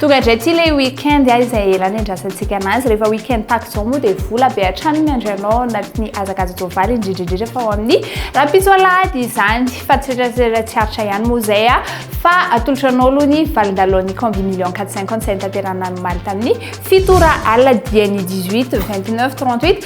Tonga indray ity ilay week-end ah, izay ela niandrasantsika anazy. Rehefa week-end tahaka izao moa dia vola be hatrany miandry anao ao anatin'ny hazakaza-tsoavaly, indrindra indrindra fa ao amin'ny rahampitso alahady izany. Fa tsy rehetra tsy aritra ihany moa izay ah, fa atolotra anao aloha ny valin-dalon'ny Combi Million 450 izay notanterahina omaly tamin'ny fito ora alina dian'ny 18, 29, 38.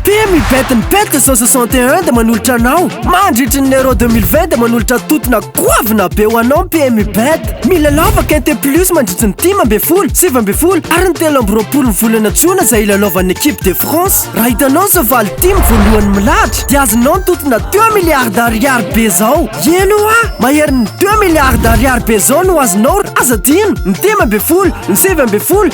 Ity mibet ny bet zao soixante et un dia manolotra anao mandritry ny euro deux mille vingt dia manolotra totona goavana be ho anao ny PMU bet. Milalao fa quinte plus mandritry ny dimy ambin'ny folo, sivy ambin'ny folo ary ny telo amby roapolo ny volana jona izay hilalaovan'ny equipe de France. Raha hitanao izao valo dimy voalohany milahatra dia azonao ny totona deux milliards d'ariary be zao. Eny hoa, maherin'ny deux milliards d'ariary be zao no azonao raha aza adino ny dimy ambin'ny folo, ny sivy ambin'ny folo,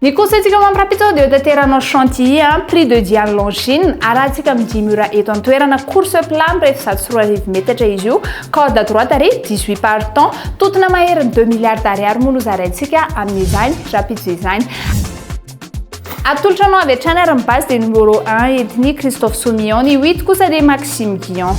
Ny conseil-ntsika ho an'ny rahampitso dia hotaterany ao Chantilly an, prix de Diane Longine, arahantsika amin'ny dimy ora eto an-toerana, course plat mirefy zato sy roa arivo metatra izy io, corde à droite ary dix huit partants, tontona maherin'ny deux milliards d'ariary moa no zaraintsika amin'izany rahampitso izany. Atolotra anao avy hatrany ary ny base dia numéro un entin'i Christophe Soumillon, ny huit kosa dia Maxime Guillon.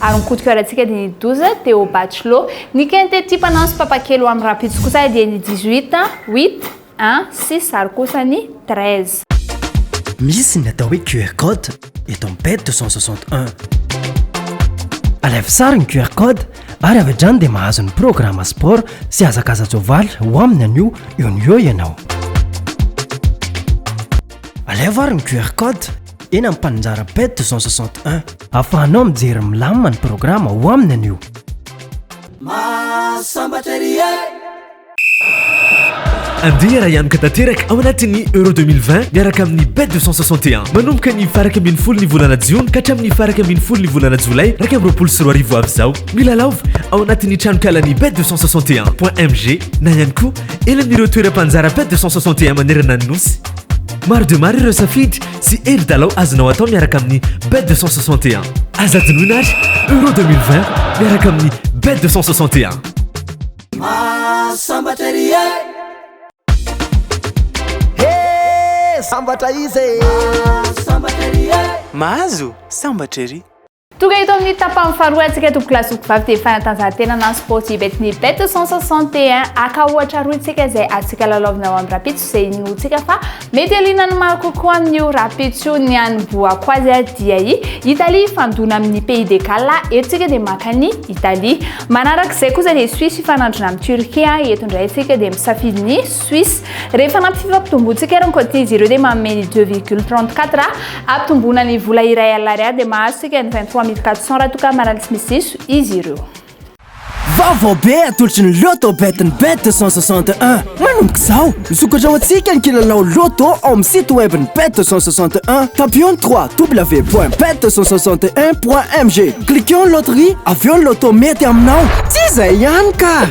ary ny kotikoarantsika dia ny 12 teo au bachelot ny quintet tia mpanao sy mpapakely ho an'ny rahampitso kosa dia ny 18 8 1 6 ary kosa ny 13 Misy ny atao hoe QR code eto amin'ny page 261. Alefa sary ny QR code ary avy hatrany dia mahazo ny programme sport sy hazakaza-tsoavaly ho amin'ny anio eo no eo ianao. Alefa ary ny QR code. eny amin'ny mpaninjara ped 261. Afahanao mijery milamina ny programa ao aminy anio. Mahasambatra ery e! Andeha raha hianoka tanteraka ao anatin'ny Euro 2020 miaraka amin'ny Bet 261. Manomboka ny faraka ambin'ny folo ny volana jiona ka hatramin'ny faraka ambin'ny folo ny volana jolay iraika amby roapolo sy roa arivo avy izao. Milalaova ao anatin'ny tranonkalan'ny Bet 261.mg na ihany koa eny amin'ireo toeram-panjara Bet 261 manerana ny nosy. Maro dia maro ireo safidy sy hevi-dalao azonao atao miaraka amin'ny Bet 261. Aza adinoina ary Euro 2020 miaraka amin'ny Bet 261. Masambatra ery e He sambatra izy e Masambatra ery e Mahazo sambatra ery Tonga eto amin'ny tapany faharoa antsika tompoko lahy sy tompoko vavy tia fanatanjahantena na sportif bet ny bet 161 aka ohatra aroy tsika izay atsika lalaovina ao amin'ny rapitso izay inoantsika fa mety alina ny maro kokoa amin'io rapitso io ny any boako azy a dia i Italie fandona amin'ny pays de Galles eto tsika dia maka ny Italie manaraka izay kosa dia Suisse ifanandrina amin'ny Turquie eto indray tsika dia misafidy ny Suisse. Rehefa anaty fifampitomboantsika ary ny côtiers ireo dia manome ny 2,34 ah. Ampitomboina ny vola iray alary ah dia mahazo sika ny 23.400 raha toa ka marary tsy misy diso izy ireo. Vaovao be atolotry ny Lotto Bet ny Bet 261. Manomboka izao, misokatra ho antsika ny kilalao Lotto ao amin'ny site web ny Bet 261. Tapions ny www.bet261.mg. Cliquons ny loterie, avy eo ny Lotto mety aminao. Tsy izay ihany ka!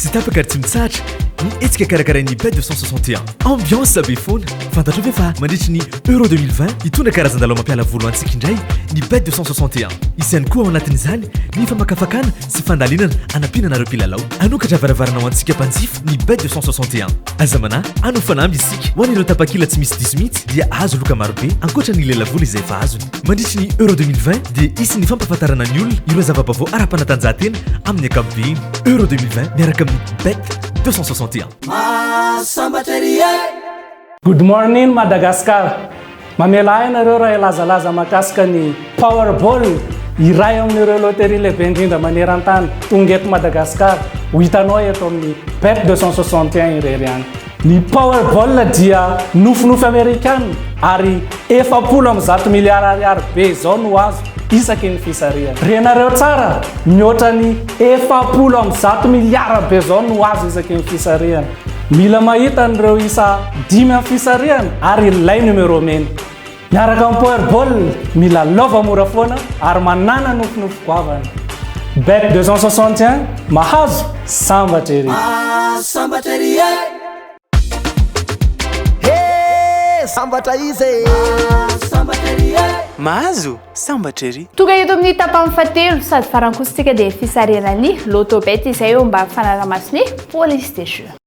Tsy tapaka ary tsy mitsahatra ny hetsika karakarain'ny Bête de 161. Ambiance be foana. Fantatrao ve fa mandritry ny Euro 2020, hitondra karazan-dalao mampiala voly ho antsika indray ny Bête de 161. Hisy ihany koa ao anatin'izany ny famakafakana sy fandalinana hanampiana anareo mpilalao. Hanokatra varavarana ho antsika mpanjifa ny Bête de 161. Aza manahy, hanao fanamby isika. Ho an'ireo tapakila tsy misy diso mihitsy dia hahazo loka marobe, ankoatra ny lelavola izay efa azony. Mandritry ny Euro 2020 dia hisy ny fampahafantarana ny olona ireo zava-baovao ara-panatanjahantena amin'ny ankapobeny. Euro 2020 miaraka amin'ny Bet 261. Mahasambatra ery e! Good morning Madagascar! Mamela ahy ianareo raha hilazalaza mahakasika ny Powerball, iray amin'ireo loterie lehibe indrindra maneran-tany. Tonga eto Madagascar, ho hitanao eto amin'ny Bet 261 irery ihany. Ny Powerball dia nofinofy Amerikana ary efapolo amby zato miliara ariary be izao no azo isaky ny fisarihana. Renareo tsara, mihoatra ny efapolo amby zato miliara be izao no azo isaky ny fisarihana. Mila mahita an'ireo isa dimy amin'ny fisarihana ary ilay numéro mena. Miaraka amin'ny Power Ball, milalaova mora foana ary manàna nofinofy goavana. Bet 261, mahazo, sambatra ery! Mahazo, sambatra ery e! sambatra izy e Mahazo sambatra ery e Mahazo sambatra ery Tonga eto amin'ny tapany fahatelo sady farankosintsika dia fisarihana ny Lotto Bet izay eo mba fanaraha-maso ny police des jeux.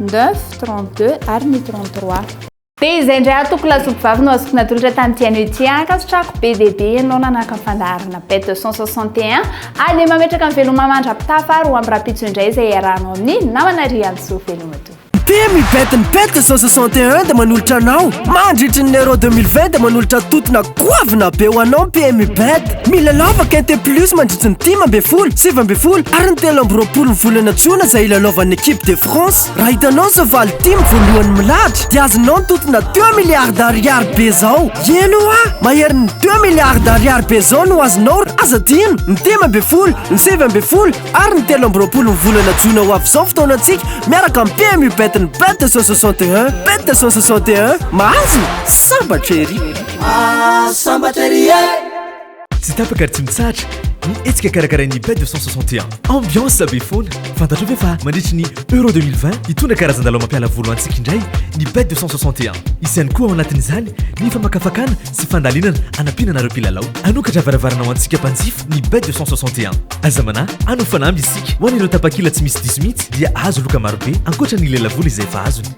neuf, trente deux ary ny trente trois. Dia izay indray aho toko lasopy vavy no azoko natolotra tamin'ity anio ity. Ankasitrahako be dia be ianao nanahaka ny fandaharana Bête deux cent soixante et un. Ary dia mametraka ny veloma mandra-pitafa ary ho amin'ny rahampitso indray izay hiarahanao amin'ny namana Riantsoa Velomatoa. Team Yvette-n'ny Bête deux cent soixante et un dia manolotra anao mandritry ny Euro deux mille vingt dia manolotra totona. Goavana be ho anao ny PMU Bet! Mila lava Quinte Plus mandritra ny dimy ambin'ny folo, sivy ambin'ny folo ary ny telo amby roapolo ny volana jona izay hilalaovan'ny Equipe de France. Raha hitanao izao valo dimy voalohany milahatra dia azonao ny tontona deux milliards ariary be izao. Eny hoa! Maherin'ny deux milliards ariary be izao no azonao raha aza adino ny dimy ambin'ny folo, ny sivy ambin'ny folo ary ny telo amby roapolo ny volana jona ho avy izao ny fotoanantsika miaraka amin'ny PMU Bet-n'ny Bet deux cent soixante et un. Bet deux cent soixante et un, mahazo? Sambatra ery! Sambatra ery e! Tsy tapaka ary tsy mitsahatra ny hetsika karakarain'ny Bay 261. Ambiance be foana. Fantatrao ve fa mandritry ny Euro 2020 hitondra karazan-dalao mampiala voly ho antsika indray ny Bay 261. Hisy ihany koa ao anatin'izany ny famakafakana sy fandalinana hanampiana anareo mpilalao. Hanokatra varavarana ho antsika mpanjifa ny Bay 261. Aza manahy, hanao fanamby isika. Ho an'ireo tapakila tsy misy diso mihitsy dia hahazo loka marobe ankoatra ny lelavola izay efa azony.